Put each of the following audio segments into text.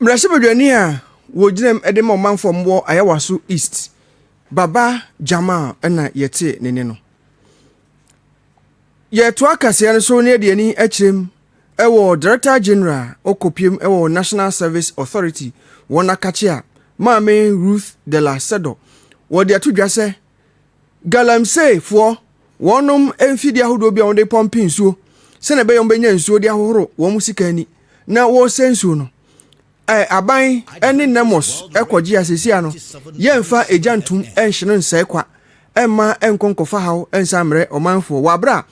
Mmarahyɛbadwani a ɔgyina mu de ma ɔmanfoɔ a wɔwɔ Ayawaso East, Baba Jamal na yɛtee ne nne no. Yɛtoa kaseɛ no so na yɛde ani akyerɛ mu wɔ Director General ɔkɔpiem wɔ National Service Authority wɔn akakyea Maame Ruth Della Sedo. Wɔde ato dwa sɛ, Galamseyfoɔ, wɔnom mfidie ahodoɔ bi a wɔde pɔmpe nsuo sɛdeɛ ɛbɛyɛ wɔbɛnya nsuo de ahohoro wɔn sika ani na wɔresɛ nsuo no. Ɛ, aban ne NEMOS kɔgye a sesia no yɛmfa egya ntom nhye no nsɛe kwa mma ɛnkɔ nkɔfa haw nsan mmrɛ ɔmanfoɔ wɔ aberɛ a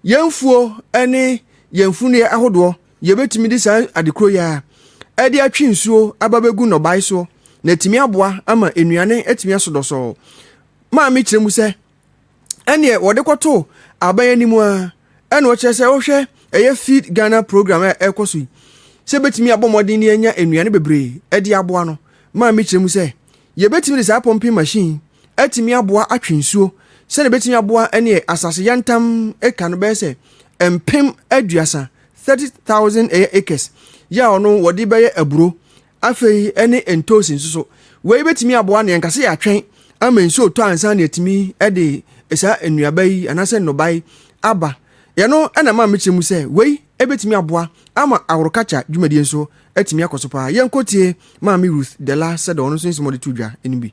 yɛn mfuo ne yɛn mfunuiɛ ahodoɔ Yɛbɛtumi de saa ade koro yi ara de atwe nsuo aba bɛgu nnɔbae soɔ na atumi aboa ama nnuane atumi aso dɔsɔɔ. Maame kyerɛ mu sɛ, ɛneɛ wɔde kɔto aban anim a ɛna ɔkyerɛ sɛ wohwɛ ɛyɛ Feed Ghana program a ɛkɔ so yi sɛ bɛtumi abɔ mmɔden de anya nnuane bebree de aboa no. Maame kyerɛ mu sɛ, yɛbɛtumi de saa pɔmpen machine atumi aboa atwe nsuo sɛdeɛ bɛtumi aboa ɛneɛ asase yantam eka no bɛyɛ sɛ mpem aduasa 30000 ɛyɛ acres yɛ a ɔno wɔde bɛyɛ aburo afei ɛne ntoosi nso so wei bɛtumi aboa ne ɛnkase yɛ atwɛn ama nsuo tɔ ansa ne atumi ɛde saa nnuaba yi anaasɛ nnɔbae aba yɛno ɛna ma mekyerɛ mu sɛ wei ɛbɛtumi aboa ama agorokakya dwumadie nso atumi akɔ so paa yɛnkɔtie maame ruth dela sɛdɛ ɔno nso nsɛm ɔde to dwa no bi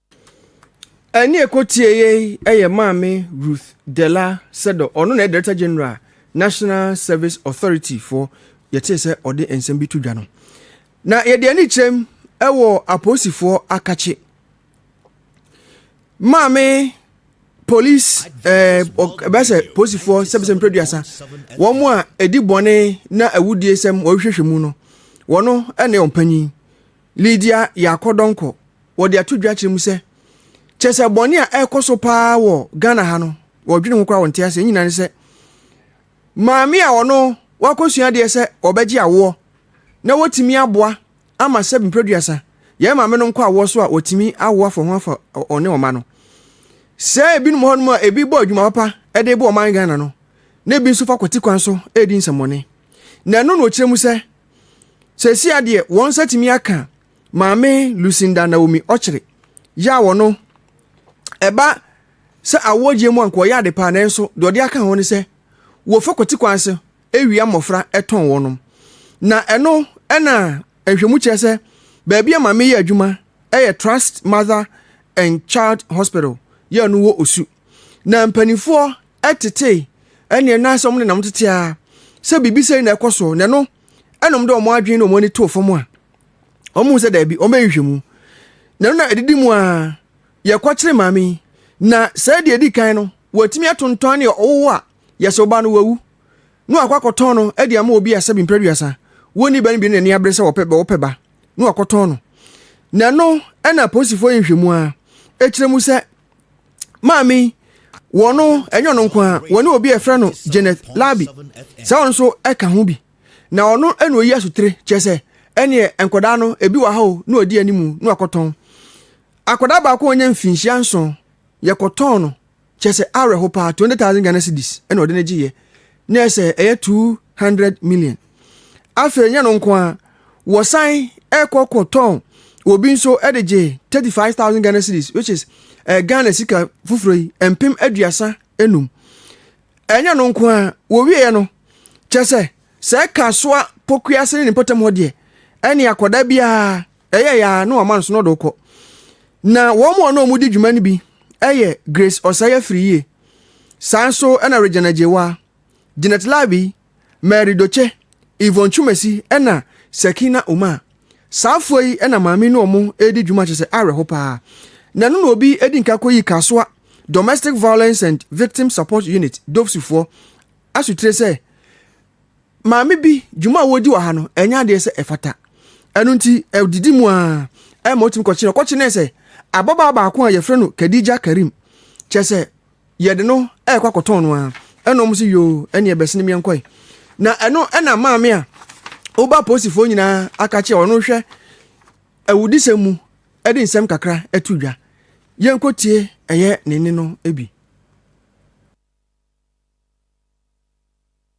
Ɛnne a ɛkɔtieeɛ yi yɛ Maame Ruth Della Sedor, ɔno na ɛyɛ Director General National Service Authority foɔ, yɛtee sɛ ɔde nsɛm bi to dwa no. Na yɛde ani kyerɛm wɔ apolisifoɔ akakye. Maame polisi ɛɛ ɛbɛyɛ sɛ polisifoɔ sɛbisɛ mpɛduasa wɔn a ɛdi bɔne na awudie sɛm wɔhwehwɛ mu no wɔn ɛna wɔn panyin. Lidia yɛ akɔdɔnkɔ wɔ de ato dwa kyerɛ mu sɛ, kyerɛ sɛ bɔne a ɛrekɔ so paa wɔ Ghana ha no, wɔdwene ho koraa wɔnte ase. Nyina ne sɛ, maame a ɔno wakɔsua adeɛ sɛ wɔbɛgye awoɔ na wɔtumi aboa ama sɛ mprɛduasa yɛn maame no nkɔ awoɔ so a wɔtumi awo afɔ ho afa ɔne ɔma no. Sɛ ebinom hɔ nom a ebi bɔ adwuma papa de bɔ ɔman Ghana no, na ebi nso fa kwati kwan so redi nsɛmmɔne. Na ɛno na ɔkyerɛ mu sɛ Seesia deɛ wɔn nsa tumi aka maame Lucinda Naomi Ɔkyere yɛ a wɔno ɛba sɛ awɔgyeɛ mu anka ɔyɛ ade paa nanso deɛ ɔde aka ho ne sɛ wɔfa kwati kwan so awia mmɔfra ɛtɔn wɔnom na ɛno ɛna nhwɛmu kyerɛ sɛ baabi a maame yɛ adwuma ɛyɛ Trust Mother and Child Hospital yɛ no wɔ Osu na mpanimfoɔ ɛtetee ɛneɛ na sɛ wɔn nenam tete a sɛ biribi sɛ na ɛkɔ so na ɛno ɛnom de wɔn adwene na wɔn ani too fam a wɔn mu sɛ daabi wɔn bɛyɛ nhwehwɛmu na ɛno na ɛdidi mu a yɛkɔkyere maame na sɛ deɛ ɛdi kan no wɔatumi atontɔn ne ɔwowo a yɛsɛ ɔba no wawu na wakɔ akɔtɔn no ɛde ama obi a sɛ bi mpɛduasa wɔn ni bɛn bi na ɛni abere sɛ wɔpɛ bɛ wɔpɛ ba na wakɔtɔn no na ɛno ɛna apolisifoɔ yɛ nhwehwɛmu a ɛkyerɛ mu sɛ maame yi wɔn no ɛnyɛ ɔno nko ara wɔne obi a yɛfrɛ no janet labi sɛ ɔno nso ɛka ho bi na ɔno ɛna oyi asotire kyerɛ sɛ ɛneɛ nkwadaa no ebi wɔ ha o na ɔdi anim na wakɔtɔn akwadaa baako a ɔnyɛ mfinhyia nson yɛkɔtɔn no kyerɛ sɛ awerɛho paa twenty thousand ghana cedis ɛna ɔde no gyeeɛ ne ɛsɛ ɛyɛ 200 million afei ɛnyɛ no nko a wɔsan ɛkɔ kɔ tɔn obi nso ɛde gye 35000 ghana series which is ɛɛ ghana sika foforɔ yi mpem aduasa enum ɛnyɛ no nko a wɔwieɛ no kyɛ sɛ sɛ ɛka soa pokuase ne ne mpɔtam hɔ deɛ ɛne akɔda biara Ɛyɛeɛ ara na wɔama no so na ɔde wo kɔ. Na wɔn a na wɔdi dwuma no bi yɛ Grace Ɔsai Afiriyie, saa nso na Regina Agyewa, Janet Labi, Mary Doche, Yvonne Twumasi na Sakina Umar. Saa afoɔ yi na maame ne wɔn redi dwuma kyerɛ sɛ awerɛho paa. Na ɛno na obi di nka kɔyii Kasoa Domestic Violence and Victim Support Unit, DOVSU foɔ, asotire sɛ maame bi dwuma a wɔdi wɔ ha no ɛnyɛ adeɛ sɛ ɛfata ɛno nti ɛdidi mu a ɛma ɔtumi kɔkyene ɔkɔkyenee sɛ ababaa baako a yɛfrɛ no Khadija Karim kyɛ sɛ yɛde no ɛrekɔ akɔtɔn no a ɛna ɔmo sɛ yoo ɛneɛ bɛsene meɛ nkɔe na ɛno ɛna maame a woba apolisifoɔ nyinaa aka kyerɛ ɔno hwɛ awudisɛm mu ɛde nsɛm kakra ɛto dwa yɛnkɔtie ɛyɛ ne ne no bi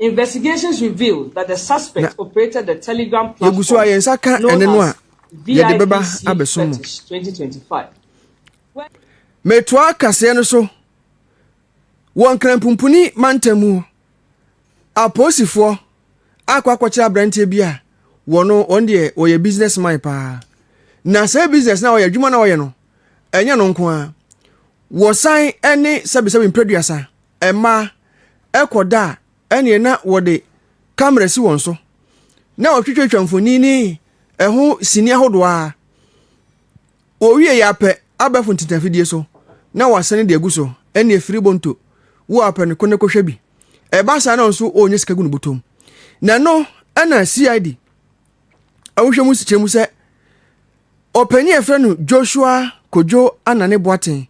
Na yɛgu so a yɛn nsa ka ɛne no a, yɛde bɛba abɛsom mo. Metoa kaseɛ no so wɔ Nkranpumpuni mantam mu hɔ. Apolisifoɔ akɔ akɔkyerɛ aberanteɛ bi a wɔno wɔn deɛ wɔyɛ business man paa. Na saa business no a wɔyɛ adwuma no a wɔyɛ no, ɛnyɛ no nko ara. Wɔsan ne sɛbesɛbe mprɛduasa. Mmaa, ɛkɔ da a, ɛneɛ na wɔde camera si wɔn so, na wɔtwitwatwa mfoni ne ɛho sini ahodoɔ ara. Wɔwie yɛ apɛ abɛfo ntintanfidie so na wɔasane de agu so, ɛneɛ firi bonto wo apɛ no kɔ na kɔhwɛ bi. Ɛba saa na ɔno nso ɔrenya sika gu ne bɔtɔm. Na ɛno ɛna CID ahohwɛ mu sikyerɛ mu sɛ ɔpanin a yɛfrɛ no Joshua Kojo Anane Boateng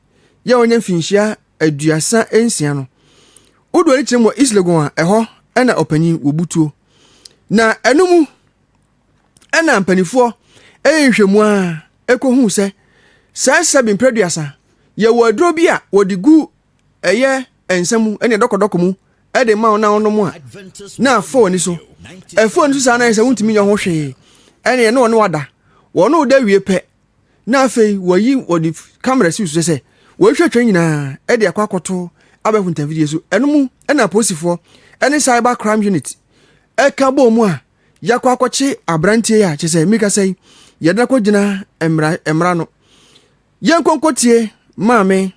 yɛ ɔnyɛ mfinhyia aduasa nsia no, wodoɔ no kyerɛ mu wɔ Islegon a ɛhɔ na ɔpanyin wɔ butuo. Na ɛno mu ɛna mpanimfoɔ ɛyɛ nhwɛmu a ɛkɔhu sɛ saa sɛbi mprɛ aduasa yɛwɔ aduro bi a wɔde gu ɛyɛ nsa mu ɛne dɔkɔdɔkɔ mu ɛde ma wɔn a wɔnom a na afɔ ani so ɛfɔ ani so saa na yɛ sɛ wontumi nyɛ ho hwee ɛne ɛne wɔn wada wɔn da wie pɛ na afei wɔyi wɔde kamera si so sɛ wɔhwɛ twɛ nyinaa de akɔ akɔto abɛɛfo ntɛmfidie so ɛno mu ɛna apolisifoɔ ɛne cyber crime unit ɛka bɔɔ mu a yɛakɔ akɔkye aberanteɛ a kyɛ sɛ mmirika sɛ yi yɛde no akɔgyina mmara mmara no yɛnkɔnkɔtie maame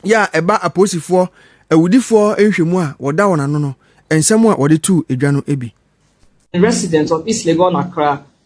yɛ a ɛba apolisifoɔ awudifoɔ nhwɛmu a wɔda wɔn ano no nsɛm a wɔde tu adwa no bi. resident of East Legon Accra,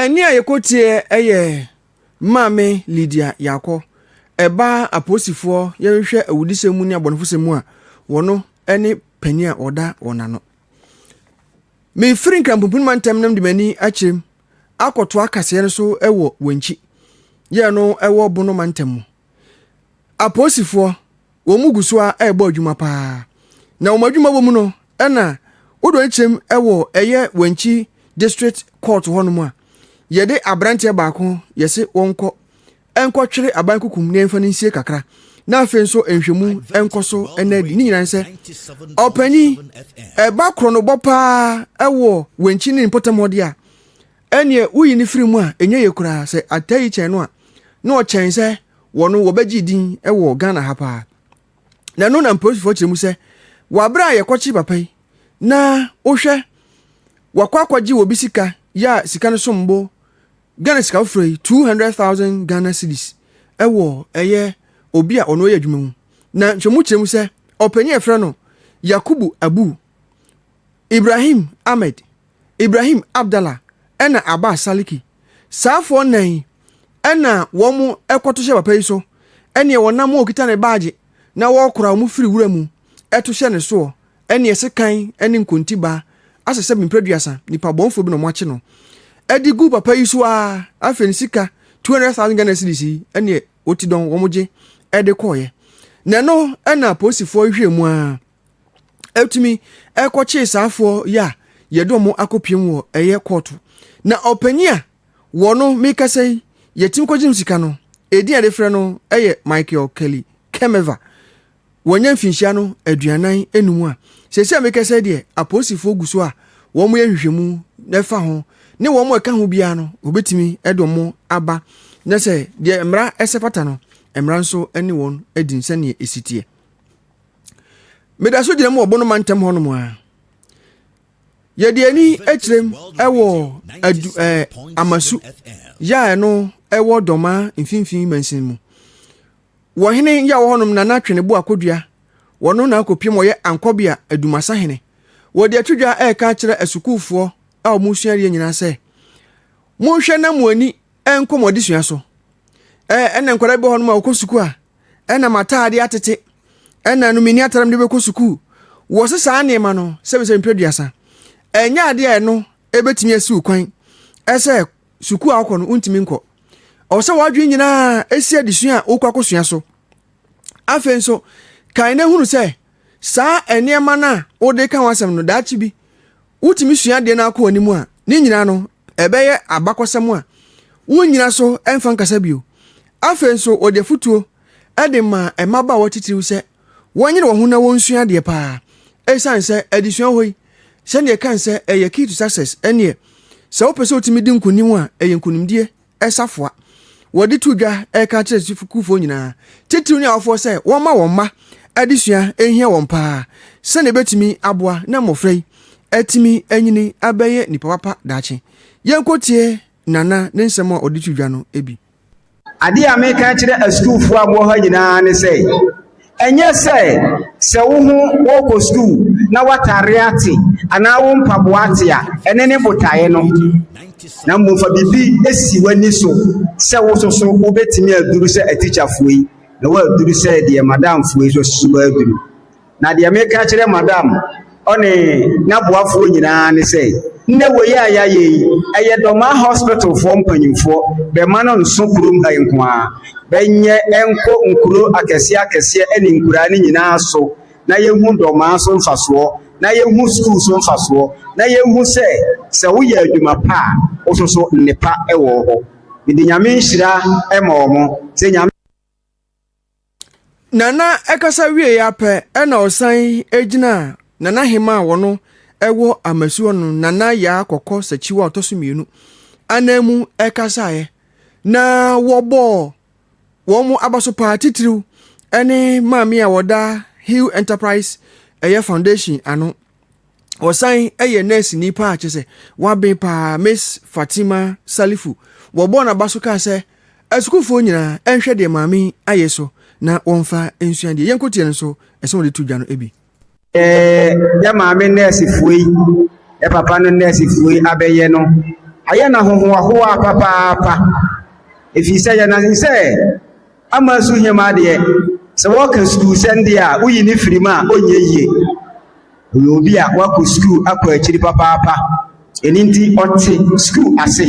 Ɛnne a yɛkɔtieɛ yɛ Maame Lydia Yaakɔ, ɛba a apolisifoɔ yɛhwehwɛ awudisɛm mu ne abɔnefosɛm mu a wɔno ne panin a ɔda wɔn ano. Mefiri Nkrampumpuni mantam nam de m'ani akyerɛm akɔtoa kaseɛ no so wɔ Wankyi, yɛ no wɔ Bono mantam mu. Apolisifoɔ wɔn gu so ara rebɔ adwuma paa. Na wɔn adwuma bɔ mu no, ɛna wodɔ ne kyɛm wɔ ɛyɛ Wankyi District Court hɔnom a, yɛde aberanteɛ baako yɛse wɔnkɔ nkɔtwere aban kukum na yɛmfa no nsie kakra na afei nso nhwɛmu nkɔ so ɛna adi ne nyinaa ne sɛ ɔpanyin ɛba korɔnobɔ paa ɛwɔ wankyi ne mpɔtam hɔ de a ɛneɛ woyi ne firi mu a ɛnyɛ yɛ koraa sɛ atɛyi kyɛn no a na ɔkyɛn sɛ wɔ no wɔbɛgye din wɔ Ghana ha paa. Na ɛno na mpolisifo kyerɛ mu sɛ wɔabrɛ a yɛkɔkye papa yi na wohwɛ wakɔ akɔgye wɔ bi sika yɛ a sika no som bo Ghana sika foforɔ yi two hundred thousand Ghana cedis ɛwɔ ɛyɛ obi a ɔno yɛ adwuma mu na nhwɛmu kyerɛ mu sɛ ɔpanyin a ɛfrɛ no Yakubu Abu Ibrahim Ahmed Ibrahim Abdallah ɛna Abbas Saliki Saa afoɔ nnan yi ɛna wɔn ɛkɔto hyɛ papa yi so ɛneɛ wɔnam a wɔkita ne baagye na wɔkora wɔn firi wura mu ɛto hyɛ ne soɔ ɛneɛ sekan ɛne nkontibaa asɛ sɛ mprɛduasa nipa bɔnfoɔ bi na wɔn akye no ɛde gu papa yi so aa afei ne sika 200,000 Ghana cedis yi ɛneɛ wɔti dɔn wɔn gye ɛde kɔɔyɛ na ɛno ɛna polisifoɔ hwɛ mu aa ɛtumi ɛkɔkyee saafoɔ yi a yɛde wɔn akɔpiem wɔ ɛyɛ kɔɔto na ɔpanyin a wɔn no mekasa yi yɛtumi kɔgye sika no ɛdin a yɛde frɛ no ɛyɛ michael kelly kemeva wɔnyɛ mfinhyia no aduanan enum a sɛsɛ a mekasa deɛ apolisifoɔ gu so a wɔn yɛ nhwehwɛmu na ɛfa ho ne wɔn ɛka ho biara no wɔbɛtumi ɛde wɔn aba na sɛ deɛ mmara ɛsɛ pata no mmara nso ɛne wɔn adi nsɛnea ɛsiteɛ meda so gyina mu wɔ bono mantam hɔ nom a yɛde ani kyerɛm wɔ adu ɛɛ amasu yɛ a ɛno ɛwɔ dɔma mfimfini mansin mu wɔ hene yɛ wɔ hɔnom nana twene bo akodua wɔno na akɔpiem wɔyɛ ankɔbea adumasa hene wɔde atwidwa ɛreka akyerɛ asukuufoɔ a wɔn suadeɛ nyinaa sɛ monhwɛ na mo ani nkɔmmɔ adesua so. Ɛna nkwadaa bi wɔ hɔ nom a wɔkɔ sukuu a ɛna m'ataade atete ɛna no menni ataade mede bɛkɔ sukuu wɔse saa nneɛma no sɛbisɛbi mpɛ duasa ɛnyɛ adeɛ a ɛno ɛbɛtumi asiw kwan ɛsɛ sukuu a wokɔ no wontumi nkɔ ɔwɔ sɛ wɔadwene nyinaa ɛsi adesua a wokɔ akɔsua so afei nso kan na hunu sɛ saa nneɛma no a wode ka ho asɛm no daakye bi wotumi sua adeɛ no akɔ anim a, ne nyinaa no, ɛbɛyɛ abakɔsɛm a wonnyina so mfa nkasa bio. Afei nso, wɔde afotuo de maa mmabaawa titiriw sɛ wɔnyere wɔn ho na wɔnsua adeɛ paa, esiane sɛ adesua hɔ yi, sɛdeɛ ɛkae sɛ ɛyɛ key to success, ɛnneɛ, sɛ wopɛ sɛ wotumi di nkonim a, ɛyɛ nkonimdie. safoa. Wɔde to dwa reka akyerɛ sukuufoɔ nyinaa, titiriw ne awofoɔ sɛ wɔmma wɔn mma adesua hia wɔn paa sɛnea ɛbɛtumi aboa na mmɔfra yi atumi anyini abɛyɛ nnipa papa daakye. Yɛnkɔtie Nana ne nsɛm a ɔde to dwa no bi. Adeɛ a meka kyerɛ asukuufoɔ a mowɔ ha nyinaa ne sɛ, Ɛnyɛ sɛ sɛ wo ho worekɔ sukuu na w'atadeɛ ate anaa wo mpaboa ate a, ɛno ne botaeɛ no, na mmom fa biribi si w'ani so sɛ wo nso so wobɛtumi aduru sɛ atikyafoɔ yi na woaduru sɛ deɛ madamfoɔ yi nso so bɛaduru. Na deɛ meka kyerɛ madam Ɔne n'aboafoɔ nyinaa ne sɛ, Nnɛ wei a yɛayɛ yi, ɛyɛ Dɔmaa Hospitalfoɔ mpanyimfoɔ bɛma no nso kurom ha yi nko ara. Bɛnyɛ nkɔ nkuro akɛseɛ akɛseɛ ne nkuraa no nyinaa so na yɛnhu Dɔmaa so mfasoɔ, na yɛnhu sukuu so mfasoɔ, na yɛnhu sɛ, sɛ woyɛ adwuma pa a, wo nso so nnepa wɔ hɔ. Mede Nyame nhyira ma wɔn sɛ Nyame. Nana kasa wieeɛ ara pɛ na ɔsan gyinaa Nana Hemaa a wɔn wɔ Amasu hɔ no, Nana Yaa Kɔkɔ Sakyiwa a ɔtɔ so mmienu ananmu kasaeɛ. Na wɔbɔɔ wɔn abaso paa titiriw ne maame a wɔda Hill Enterprise ɛyɛ foundation ano. ɔsan yɛ nɛɛseni paa kyɛ sɛ waben paa miss fatima salifu wɔbɔɔ n'aba so kaa sɛ asukuufoɔ nyinaa ɛnhwɛ deɛ maame ayɛ so na wɔmfa nsua deɛ yɛnkoteɛ no nso ɛsɛ wɔde to dwa no bi yɛ maame nɛɛsefoɔ yi yɛ papa no nɛɛsefoɔ yi abɛyɛ no ayɛ no ahohoahoa papaapa ɛfiri sɛ yɛnane sɛ Ama nso hia mu adeɛ. Sɛ wɔka sukuusɛm deɛ a, woyi ne firi mu a, ɔnyɛ yie. Ɔyɛ obi a wakɔ sukuu akɔ akyiri papaapa. Ɛno nti ɔte sukuu ase.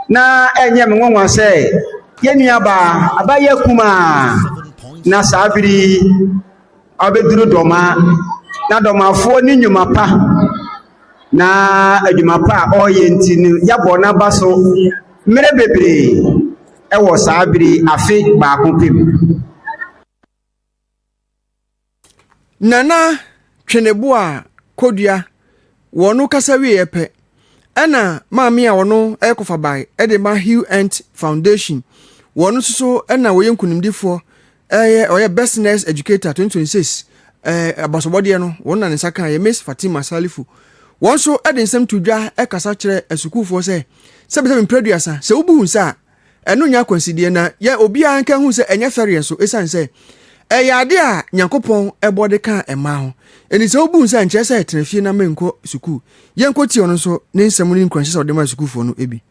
Na ɛnyɛ me nwanwa sɛ yɛn nuabaa abayɛ kumaa na saa bere yi ɔbɛduru dɔma na dɔmafoɔ ne nnwuma pa na adwuma pa a ɔreyɛ nti no yɛabɔ n'aba so mmerɛ bebree wɔ saa bere yi afe baako pɛ mu. Nana Tweneboa a Kodua wɔ ɔno kasa wieɛ pɛ, ɛna maame a ɔno yɛ kɔfabae de ma Hugh Ent Foundation. Wɔn nso so na wɔyɛ nkunimdifoɔ ɛyɛ ɔyɛ best nurse educator 2026 ɛɛ abasɔbɔdeɛ no wɔn na ne nsa kan yɛ miss fatima salifu wɔn nso ɛde nsɛm to dwa ɛkasa kyerɛ asukuufoɔ sɛ sɛbisɛbi mprɛduasa sɛ wobu hu sɛ a ɛno nyɛ akwansideɛ na yɛ obiara nka hu sɛ ɛnyɛ fɛreɛ nso ɛsiane sɛ ɛyɛ ade a nyankopɔn ɛbɔ de ka ɛmaa ho ɛni sɛ wobu hu sɛ nkyerɛ sɛ tena fie na menkɔ sukuu yɛnkɔ tie ɔno nso ne nsɛm ne nkuranhyɛ sɛ ɔde ma sukuufoɔ no ebi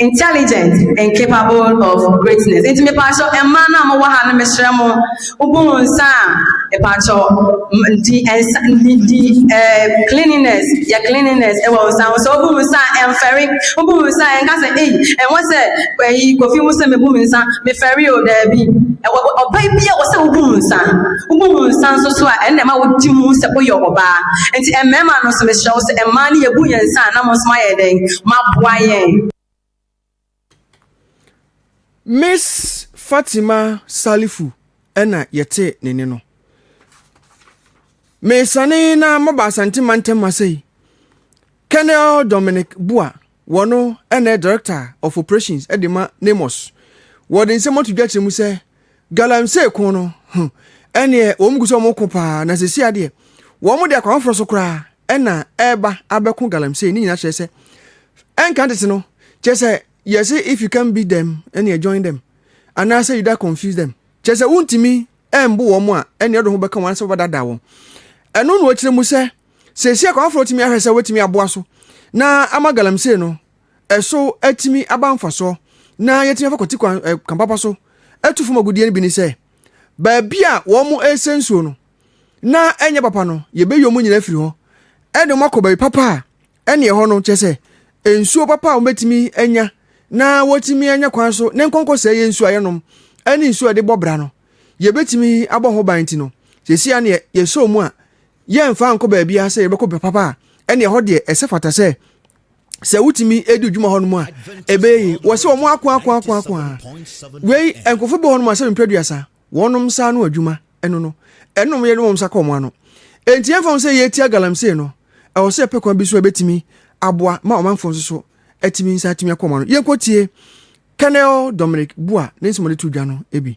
Intelligent and capable of greatness. Nti mepaakyɛw mmaa no a mowɔ ha no mesrɛ mo wobu mo nsa a mepaakyɛw di nsa di di eh, cleanliness yɛ cleanliness ɛwɔ wo nsa ho sɛ wobu mo nsa a ɛmfɛre wobu mo nsa a ɛnka sɛ ei ɛwɔ sɛ ɛyi kofi wo sɛ mebu me nsa mefɛre o daabi ɛwɔ ɔbaa bi a wɔ sɛ wobu mo nsa wobu mo nsa nso so a ɛnna ɛma wodi mu sɛ woyɛ ɔbaa nti mmarima no nso mesrɛ wo sɛ mmaa no yɛbu yɛn nsa a na mo nso ayɛ dɛn ma boa yɛn. Miss Fatima Salifu na yɛtee ne nne no. Mesane na maba Asante Mantam ase yi. Colonel Dominic Bua, wɔno na Director of Operations de ma NAMOS. Wɔde nsɛm ato dwa kyerɛ mu sɛ, Galamsey ko no ho ɛneɛ wɔn gu sɛ wɔn ko paa na sɛsi adeɛ wɔn de akwan foforɔ so koraa ɛna ɛreba abɛko galamsey ne nyinaa kyerɛ sɛ ɛnka tete no kyerɛ sɛ yɛse if you can beat them ɛneɛ join them anaasɛ you da confuse them kyerɛ sɛ wontumi ɛmbo wɔn a ɛneɛ ɔde ho bɛka wɔn anasɛ wɔbɛdada wɔn ɛno na wɔkyerɛ mu sɛ sɛsi akwan foforɔ tumi ahwɛ sɛ wɔtumi aboa so na ama galamsey no ɛso atumi aba mfasoɔ na yɛatumi afa kwati kwan eh, kwan papa so atu fam agudeɛ no bi ne sɛ baabi a wɔn resɛ nsuo no na ɛnyɛ papa no yɛbɛyi wɔn nyinaa firi hɔ ɛde wɔn akɔ baabi papa a ɛne ɛhɔ no kyɛ sɛ nsuo papa a wɔbɛtumi anya na wɔtumi anya kwan so ne nkɔnkɔ sɛ yɛ nsuo a yɛnom ɛne nsuo a yɛde bɔ bra no yɛbɛtumi abɔ ho ban ti no sɛsi a ne yɛsɛ mu a yɛmfa nkɔ baabi a sɛ yɛbɛkɔ papa a ɛne ɛhɔ deɛ ɛsɛ fata sɛ sɛ wotumi di dwuma hɔ nom a ɛbɛyɛ yi wɔ sɛ wɔn ako ako ako ako a wei nkurɔfo bɔ hɔ nom asɛ mpɛ duasa wɔnom nsa ano adwuma ɛno no ɛnom yɛ nom nsa kɔ wɔn ano enti yɛmfa ho sɛ yɛtia galamsey no ɛwɔ sɛ yɛpɛ kwan bi so a ɛbɛtumi aboa ma ɔmanfoɔ nso so atumi nsa atumi akɔ wɔn ano yɛnkɔtie Colonel Dominic Bua ne nsɛm a ɔde to dwa no bi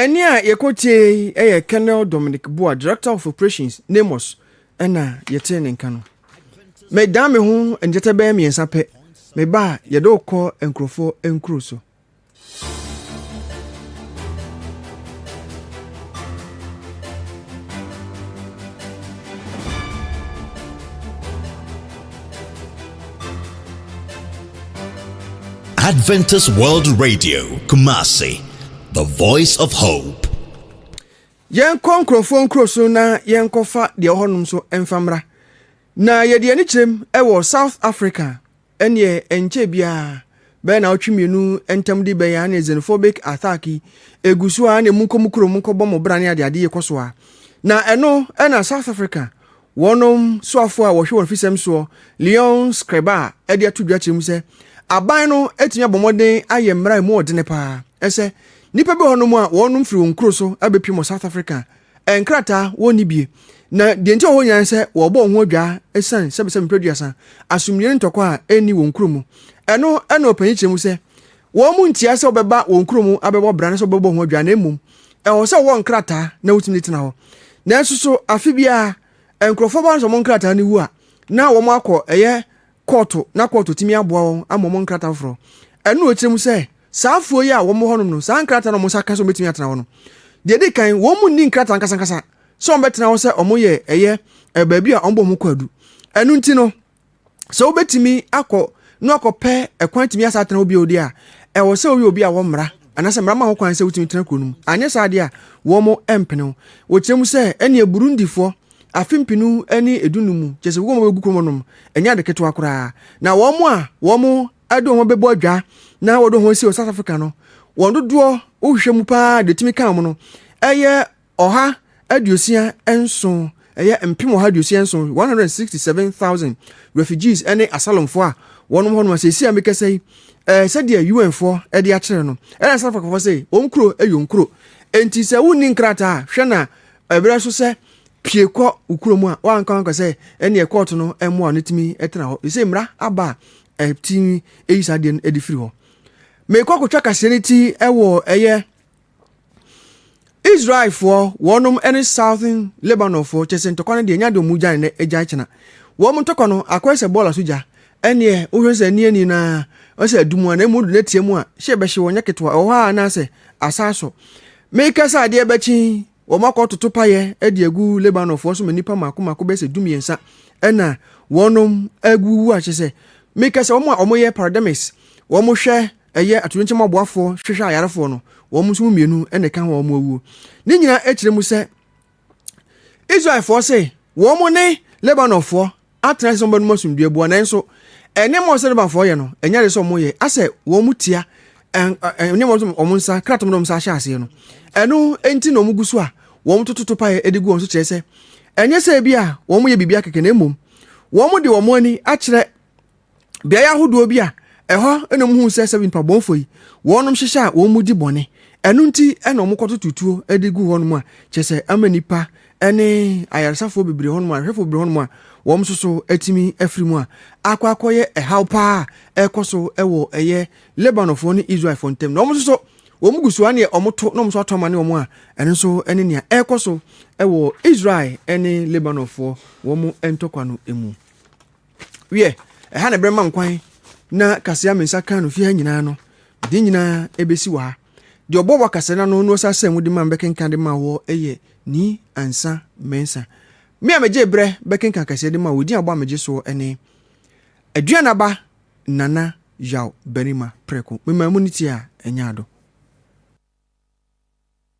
Ɛnne a yɛkɔtiee yi yɛ Colonel Dominic Boa, Director of Operations, NAMOS, ɛna yɛtee ne nka no. Medan me ho nkyɛkyɛ bɛyɛ mmiɛnsa pɛ, meba a yɛde wokɔ nkurɔfoɔ nkuro so. Adventist World Radio, Kumasi, the voice of hope. yɛnkɔ nkurɔfoɔ nkuro so na yɛnkɔfa deɛ ɔhɔnom so mfa mmra na yɛde ani kyerɛm wɔ south africa ɛneɛ ɛnkyɛ biara bɛyɛ na ɔtwe mmienu ntam de bɛyɛ a ne xenophobic attack yi ɛgu so a ne mu nkɔ mu kurom nkɔbɔ mo bra ne adeade yɛkɔ so a na ɛno ɛna south africa Wɔn soafoɔ a wɔhwɛ wɔ afisɛm soɔ, Leon Skrebar de ato dwa kyerɛ mu sɛ, Aban no atumi abɔ mmɔden ayɛ mmara a ɛmu ɔdene paa ɛsɛ nnipa bi wɔ hɔnom a wɔnom firi wɔn nkuro so abɛpiem wɔ South Africa a nkrataa wɔnni bie na deɛ nti a wɔwɔ hɔ nyinaa ne sɛ wɔrebɔ wɔn ho adwaa ɛsiane sɛbesɛbe mprɛduasa asomdwie ne ntɔkwa a ɛnni wɔn kuro mu. Ɛno na ɔpanyin kyerɛ mu sɛ Wɔn ntia sɛ wɔbɛba wɔn kurom abɛbɔ bra ne sɛ wɔbɛbɔ ho adwuma, na mmom ɛwɔ sɛ wɔwɔ nkrataa na wotumi de tena hɔ. Nanso so afe biara nkurɔfoɔ ba no sɛ wɔn nkrataa no wu a, na wɔn akɔ ɛyɛ kɔɔto na kɔɔto tumi aboa wɔn ama wɔn nkrataa foforɔ. Ɛno na wɔkyerɛ mu sɛ saa afuo yi a wɔn wɔ hɔnom no, saa nkrataa na wɔn nsa ka sɛ wɔbɛtumi atena hɔ no. Deɛ ɛdi kan, wɔn mu nni nkrataa nkasankasa sɛ wɔbɛtena hɔ sɛ wɔyɛ ɛyɛ baabi a wɔbɔ ho kwaadu. Ɛno nti no, sɛ wobɛtumi akɔ na akɔpɛ ɛkwan atumi asa atena hɔ bio deɛ a ɛwɔ sɛ woyɛ obi a wɔmmara anaasɛ mmara ma ho kwan sɛ wotumi tena kuro no mu anyɛ saa deɛ a wɔn mpene wo wɔkyerɛ mu sɛ ɛneɛ burundifoɔ afe mpenu ne edunu mu kyɛ sɛ wɔn bɛgu kurom nom ɛnyɛ ade ketewa koraa na wɔn a wɔn ɛde wɔn bɛbɔ adwa na wɔde wɔn asi wɔ south africa no wɔn dodoɔ wohwehwɛ mu paa deɛ tumi ka wɔn no ɛyɛ ɔha aduosia nson, ɛyɛ mpem ɔha aduosia nson, 167,000 refugees ne asylumfoɔ a wɔnom hɔ nom a seesei a mekasa yi, eh, sɛdeɛ UN-foɔ de akyerɛ no, ɛna South Africa foɔ sɛ, wɔn kuro yɛ wɔn kuro. Enti sɛ wonni nkrataa a, hwɛ na ɛberɛ so sɛ pie kɔ wo kuro mu a, wanka wanka sɛ ɛneɛ kɔɔto no mmoa no tumi tena hɔ. Ɛsɛ mmara aba a ɛti ɛyi saa deɛ no ɛde firi hɔ. Mekɔ akɔtwa kaseɛ no ti ɛwɔ ɛyɛ Israelfoɔ wɔnom ne Southern Lebanonfoɔ kyɛ sɛ ntɔkwa no deɛ nya deɛ ɔmu gya ne gya kyena wɔn ntɔkwa no akɔyɛ sɛ bɔɔla so gya ɛneɛ wohwɛ sɛ ani ani naa ɔsɛ adum a na ɛmu do n'atia mu a hyɛ bɛhye wɔn nyɛ ketewa ɛwɔ hɔ a anaasɛ asaa so meka sɛ adeɛ bɛkye wɔn akɔ toto payɛ ɛde agu Lebanonfoɔ so ma nnipa mako mako bɛsɛ du mmiɛnsa ɛna wɔnom agu wu akyɛ sɛ meka sɛ wɔn a wɔyɛ parademis wɔn hwɛ Ɛyɛ atoyerɛnkyɛm aboafoɔ hwehwɛ ayarefoɔ no, wɔn nso mu mmienu na ɛka ho a wɔn awuo. Ne nyinaa kyerɛ mu sɛ, Israelfoɔ se wɔn ne Lebanonfoɔ atena ase sɛ wɔbɛnom asomdwoeɛ boa, nanso nneɛma a ɔsɛ Lebanfoɔ yɛ no, ɛnyɛ ade sɛ wɔyɛ, asɛ wɔn tia nneɛma nso wɔn nsa, kratom na wɔn nsa ahyɛ aseɛ no. Ɛno nti na wɔgu so a wɔtoto topaeɛ de gu wɔn so kyerɛ sɛ, ɛnyɛ sɛ ebi a wɔyɛ biribi akɛkɛ na mmom wɔde wɔn ani akyerɛ beaeɛ ahodoɔ bi a ɛhɔ na wɔhuu sɛ sɛ mpabɔnfo yi wɔnom hyehyɛ a wɔn mu di bɔne ɛno nti ɛna wɔn kɔto tutuo de gu hɔnom a kyerɛ sɛ ama nipa ɛne ayaresafoɔ bebree hɔnom a ahwɛfoɔ bebree hɔnom a wɔn nso so atumi afiri mu a akɔ akɔyɛ ɛhaw paa a ɛkɔ so ɛwɔ ɛyɛ lebanonfoɔ ne israelfoɔ ntam na wɔn nso so wɔn gu so a neɛ wɔn to na wɔn nso ato ama ne wɔn a ɛno nso ɛne nea ɛkɔ so ɛwɔ israel ɛne lebanonfoɔ wɔn ntɔkwa no mu. Wiɛ, ɛha na ɛbɛma nkwan na kasea me nsa kan no fi ha nyinaa no, de nyinaa ɛbɛsi wɔ ha. Deɛ ɔbɔ wɔ kasea no ano no ɔsa sɛ mu de ma bɛkenkan de ma wɔ ɛyɛ ni ansa mɛnsa. Me a megye berɛ bɛkenkan kasea de ma wɔ din abɔ a megye soɔ ɛne Aduan Aba Nana Yaw Barima Prɛko. Memaa mu ne tie a ɛnyɛ ado.